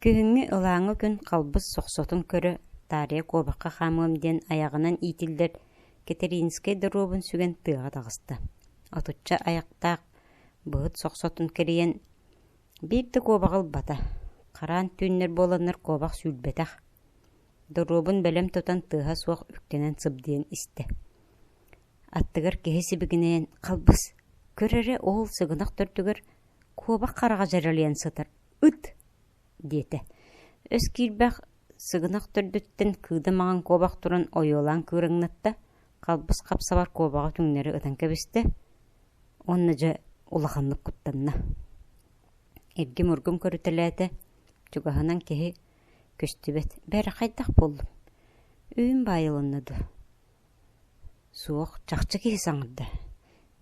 Күһүҥҥү ылааҥы күн халбыс сохсотун көрө таарыйа куобахха хаамыам диэн айаҕынан иитиллэр Кэтэриинскэй доруобун сүгэн тыаҕа таҕыста. Отучча айахтаах быһыт сохсотун кэрийэн, биир да куобаҕы ылбата, хараан түүннэр буоланнар куобах сүүрбэтэх. Доруобун бэлэм тутан тыаһа суох үктэнэн сыбдыйан истэ аттыгар киһи сибигинэйэн «халбыс, көр эрэ ол сыгынах төрдүгэр куобах хараҕа дьэрэлийэн сытар, ыт» диэтэ. өс киирбэх сыгынах төрдүттэн кыыда маҥан куобах туран ойуолаан кыыраҥнатта, халбыс хапсабар куобаҕы түҥнэри ытан кэбистэ уонна дьэ улаханнык куттанна. Иргим-ургум көрүтэлээтэ, чугаһынан киһи көстүбэт «бэрэ хайдах буоллуҥ? Үүн баайылынна дуу? Суох, чахчы киһи саҥарда,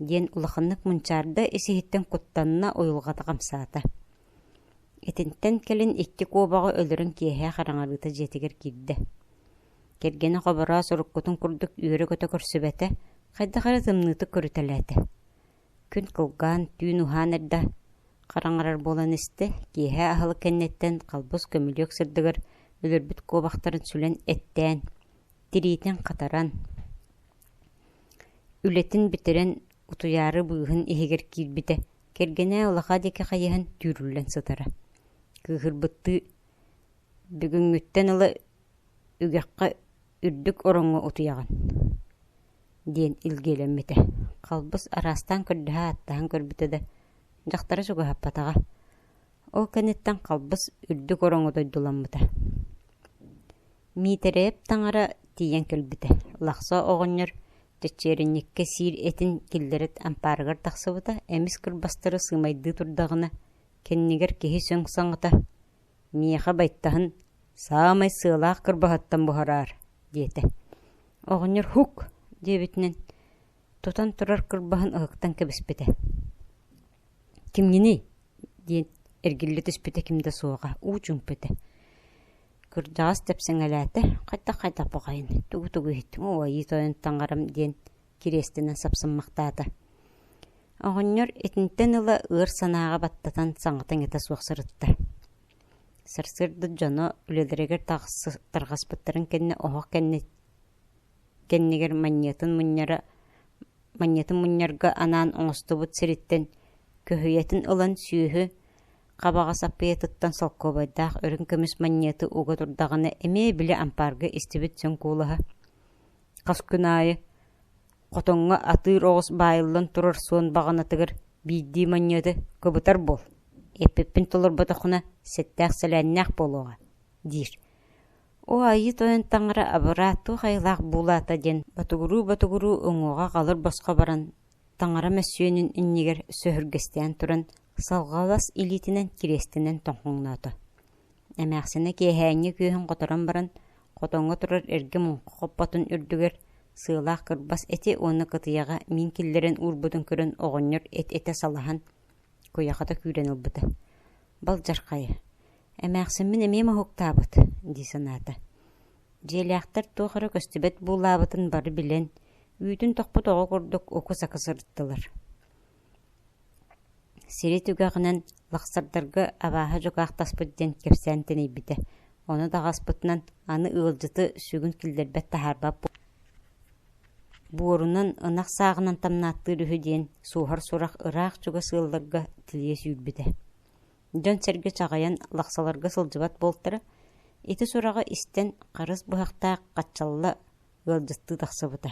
диэн улаханнык мунчаарда исиһиттэн куттанна, уйулҕата хамсаата. Итинтэн кэлин икки куобаҕы өлөрөн киэһэ хараҥарыыта дьиэтигэр киирдэ. Кэргэнэ хобороос уруккутун курдук үөрэ-көтө көрсүбэтэ, хайдах эрэ тымныытык көрүтэлээтэ. Күн кылгаан, түүн уһаан эрдэ, хараҥарар буолан истэ, киэһэ аһылык кэнниттэн халбас көмүлүөк сырдыгар өлөрбүт куобахтарын сүлэн эттээн, тириитин хатаран, үлэтин бүтэрэн, утуйаары быыһын иһигэр киирбитэ, кэргэнэ улаха диэки хайыһан түүрүллэн сытара. Кыыһырбыттыы, бүгүҥҥүттэн ыла үгэххэ үрдүк ороҥҥо утуйаҕын, диэн илгиэлэммитэ. Халбыс араастаан көрдөһө ааттаһан көрбүтэ да, дьахтара чугаһаппатаҕа. Ол кэнниттэн халбас үрдүк ороҥҥо дойдуламмыта. Миитэрэп таҥара тиийэн кэлбитэ. Лахса оҕонньор чэччиэринньиккэ сиир этин киллэрит ампаарыгар тахсыбыта, эмис кырбастары сыымайдыы турдаҕына, кэннигэр киһи сөҥ саҥата «Миэхэ байтаһын саамай сыалаах кырбаһыттан буһараар» диэтэ. Оҕонньор «Һук!» диэбитинэн тутан турар кырбаһын ыһыктан кэбиспитэ. кимҥиний диэн эргиллэ түспүтэ ким да суоҕа уу чуумпутэ кырдьаҕас тэпсэҥэлээтэ хайдах хайдах баҕайын тугу тугу иһиттиҥ оо айыы тойон таҥарам диэн кириэстэнэн сапсыммахтаата оҕонньор итинтэн ыла ыар санааҕа баттатан саҥата иҥэтэ суох сырытта сарсыарда дьоно үлэлэригэр тарҕаспыттарын кэннэ оһох кэннэ кэннигэр манньатын мунньара манньатын мунньарга анаан оҥостубут сириттэн көһүйэтин ылан сүөһү хабаҕас аппаятыттан солкуобайдаах үрүҥ көмүс манньыаты уга турдаҕына эмиэ били ампаарга истибит сөҥ куулаһа хас күн аайы хотоҥҥо атыыр оҕус баайыллан турар суон баҕанатыгар биирдии манньыаты кыбытар буол эппиппин толорботоххуна сэттээх сэлээннээх буолуоҕа диир Оо Айыы Тойон таҥара абыраа туох айылаах буулаата диэн ботугуруу-ботугуруу уҥуоҕа халыр босхо баран, таҥара мөссүөнүн иннигэр сөһүргэстээн туран, салҕалас илиитинэн кириэстэнэн тоҥхоҥноото. Эмээхсинэ киэһээҥҥи күөһүн хоторон баран, хотоҥҥо турар эргэ муҥха хоппотун үрдүгэр, сыалаах кырбас эти уонна кытыйаҕа миин киллэрэн уурбутун көрөн оҕонньор эт-этэ салаһан, куйахата күүрэн ылбыта. Балдьархайа Эмээхсиммин эмиэ моһуктаабыт дии санаата. Дьиэлээхтэр туох эрэ көстүбэт буулаабытын бары билэн, үүтүн тохпут оҕо курдук уку-сака сырыттылар. Сири түгэҕинэн лахсардарга абааһы дьукаахтаспыт диэн кэпсээн тэнийбитэ. Ону даҕаспытынан аны ыалдьыты сүгүн киллэрбэт таһаарбат буорунан ынах сааҕынан тамнааттыыр үһү диэн суоһар сурах ыраах чугас ыалларга тилийэ сүүрбүтэ. дьон-сэргэ чаҕыйан лахсаларга сылдьыбат буолтара, ити сураҕы истэн харыс быһахтаах хаччалла ыалдьыттыы тахсыбыта.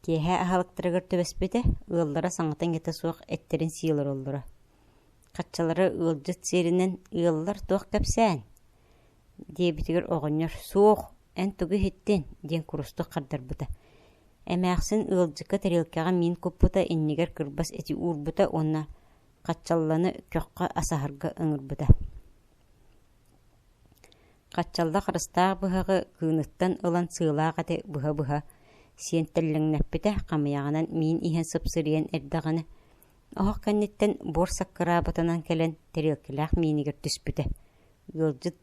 Киэһэ аһалыктарыгар түбэспитэ, ыаллара саҥата иҥэтэ суох эттэрин сии олороллоро. Хаччалара ыалдьыт сиэринэн «Ыаллар туох кэпсээн?» диэбитигэр оҕонньор «Суох, эн тугу иһиттин?» диэн курустук хардарбыта. Эмээхсин ыалдьыкка тарелкаҕа миин куппута иннигэр кырбас эти уурбута уонна Хаччалланы көххө асаһарга ыҥырбыта. Хаччалла харыстаах быһаҕы кыыныттан ылан сыылаах эти быһа-быһа сиэн тэллэҥнэппитэ, хамыйаҕынан миин иһэн сыпсырыйан эрдэҕинэ, оһох кэнниттэн буор саккырааботунан кэлэн тэриэлкэлээх миинигэр түспүтэ. Ыалдьыт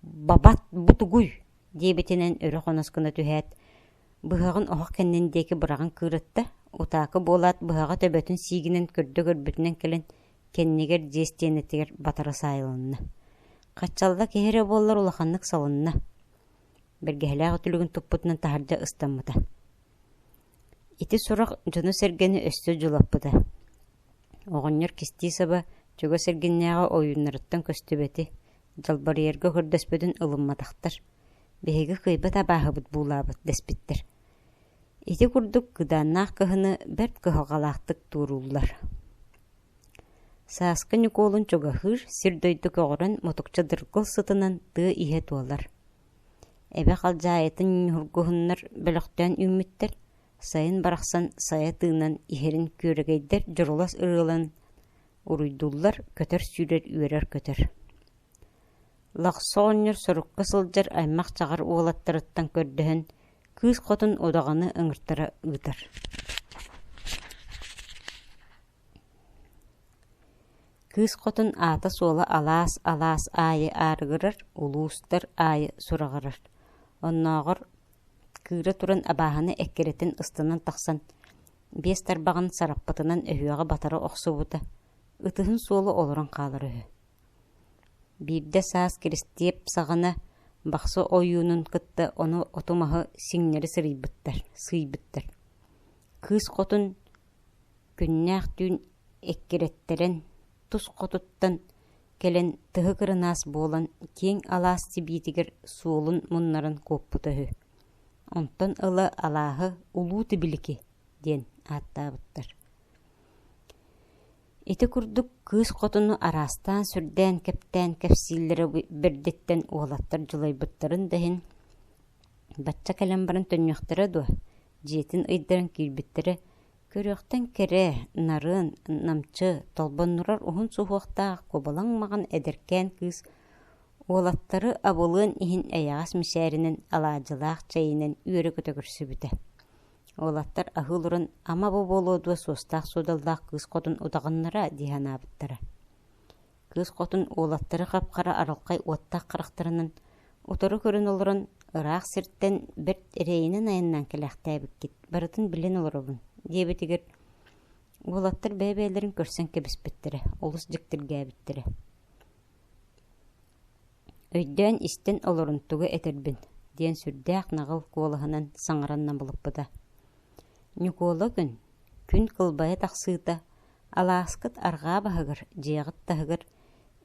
«Бабат бутугуй!» диэбитинэн өрө хонос гына түһээт, Быһаҕын оһох кэннин диэки быраҕан кыырытта, утаакы буолаат, быһаҕа төбөтүн сиигинэн көрдө-көрбүтүнэн кэлэн, кэннигэр дьиэ стиэнэтигэр батара саайылынна. Хаччалла киһи эрэ буоллар улаханнык салынна. Бэргэһэлээх үтүлүгүн туппутунан таһырдьа ыстаммыта. Ити сурах дьону-сэргэни өссө дьулаппыта. Оҕонньор кистии саба чугас эргиннээҕи ойууннарыттан көстүбэти, дьалбарыйарга көрдөспөтүн ылымматахтар. Биһиги кыйбат абааһыбыт буулаабыт дэспиттэр. Ити курдук кыдааннаах кыһыны бэрт кыһалҕалаахтык туорууллар Сааскы Ньукуолун чугаһыыр сир-дойду көҕөрөн мотукча дыргыл сытынан тыа иһэ туолар. Эбэ халдьаайытын ньургуһуннар бөлөхтөөн үүммүттэр, сайын барахсан сайа тыынан иһэрин күөрэгэйдэр дьурулас ырыалан уруйдууллар, көтөр сүүрэр үөрэр көтөр. Лахса оҕонньор сорукка сылдьар аймах-чаҕар уолаттарыттан көрдөһөн, кыыс хотун удаҕаны ыҥыртара ыытар Кыыс хотун аата-суола алаас-алаас аайы аарыгырар, улуустар аайы сураҕырар. Оннооҕор кыыра туран абааһыны эккирэтин ыстынан тахсан, биэс тарбаҕын сараппытынан өһүөҕэ батара охсубута, ытыһын суола олорон хаалара үһү. Биирдэ саас Киристиэп саҕана бахсы ойуунун кытта ону оту-маһы сиҥнэри сырыйбыттар, сыыйбыттар. Кыыс хотун күннээх түүн эккирэттэрэн, тус хотуттан кэлэн тыһы кырынаас буолан киэҥ алаас сибиитигэр суолун муннаран куоппута үһү. Онтон ыла алааһы «Улуу Тибилики» диэн ааттаабыттар. Ити курдук кыыс хотуну араастаан-сүрдээн кэптээн кэпсииллэрэ бэрдиттэн уолаттар дьулайбыттарын да иһин бачча кэлэн баран төннүөхтэрэ дуо, дьиэтин ыйдаран киирбиттэрэ көрүөхтэн кэрэ, нарыан, намчы, толбоннурар уһун суһуохтаах кубалаҥ маҕан эдэркээн кыыс уолаттары абылыан иһин эйэҕэс мичээринэн, алаадьылаах чэйинэн үөрэ көтө көрсүбүтэ Уолаттар аһыы олорон «ама-бу буолуо дуо суостаах-суодалдаах кыыс хотун утаҕыннара» дии санаабыттара Кыыс хотун уолаттары хап-хара арылхай уоттаах харахтарынан утары көрөн олорон ыраах сиртэн бэрт эрэйинэн айаннаан кэлээхтээбиккит барытын билэн олоробун диэбитигэр уолаттар бэйэ-бэйэлэрин көрсөн кэбиспиттэрэ олус дьиктиргээбиттэрэ Өйдөөн истэн олорон тугу этэрбин, диэн сүрдээх наҕыл куолаһынан саҥаран набылыппыта. Ньукуола күн, күн кылбайа тахсыыта, алааскыт арҕаа баһыгар, дьиэҕит таһыгар,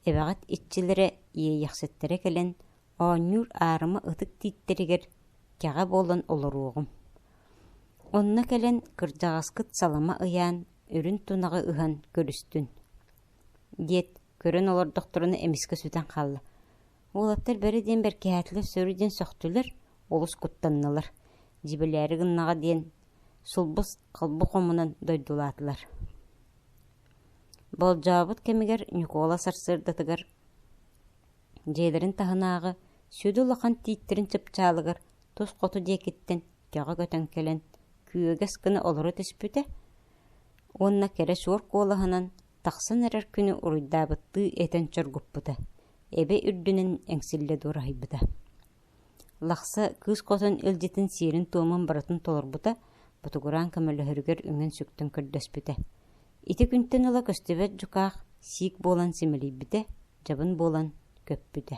эбэҕит иччилэрэ, иэйэхситтэрэ кэлэн, оонньуур аарыма ытык тииттэригэр кэҕэ буолан олоруоҕум. Онно кэлэн кырдьаҕаскыт салама ыйаан, үрүн тунаҕы ыһан көрүстүн, диэт, Көрөн олордохторуна эмискэ сүтэн хаалла. Уолаттар бэрэ диэн бэркиһээтилэр сөрү диэн сөхтүлэр, олус куттаннылар. Дьибэлээри гыннаҕа диэн сулбус халбы хомунан дойдулаатылар. Болдьообут кэмигэр Ньукуола сарсыардатыгар дьиэлэрин таһынааҕы сүдү улахан тииттэрин чыпчаалыгар тус хоту диэкиттэн көҕө көтөн кэлэн күөгэс гына олоро түспүтэ уонна кэрэ суор куолаһынан Тахсан эрэр күнү уруйдаабыттыы этэн чоргуппута, эбэ үрдүнэн эҥсиллэ дуораһыйбыта. Лахса кыыс хотон илдьитин сиэрин-туомун барытын толорбута, ботугураан көмөлөһөрүгэр үҥэн сүктэн көрдөспүтэ. Ити күнтэн ыла көстүбэт дьукаах сиик буолан симэлийбитэ, дьабын буолан көппүтэ.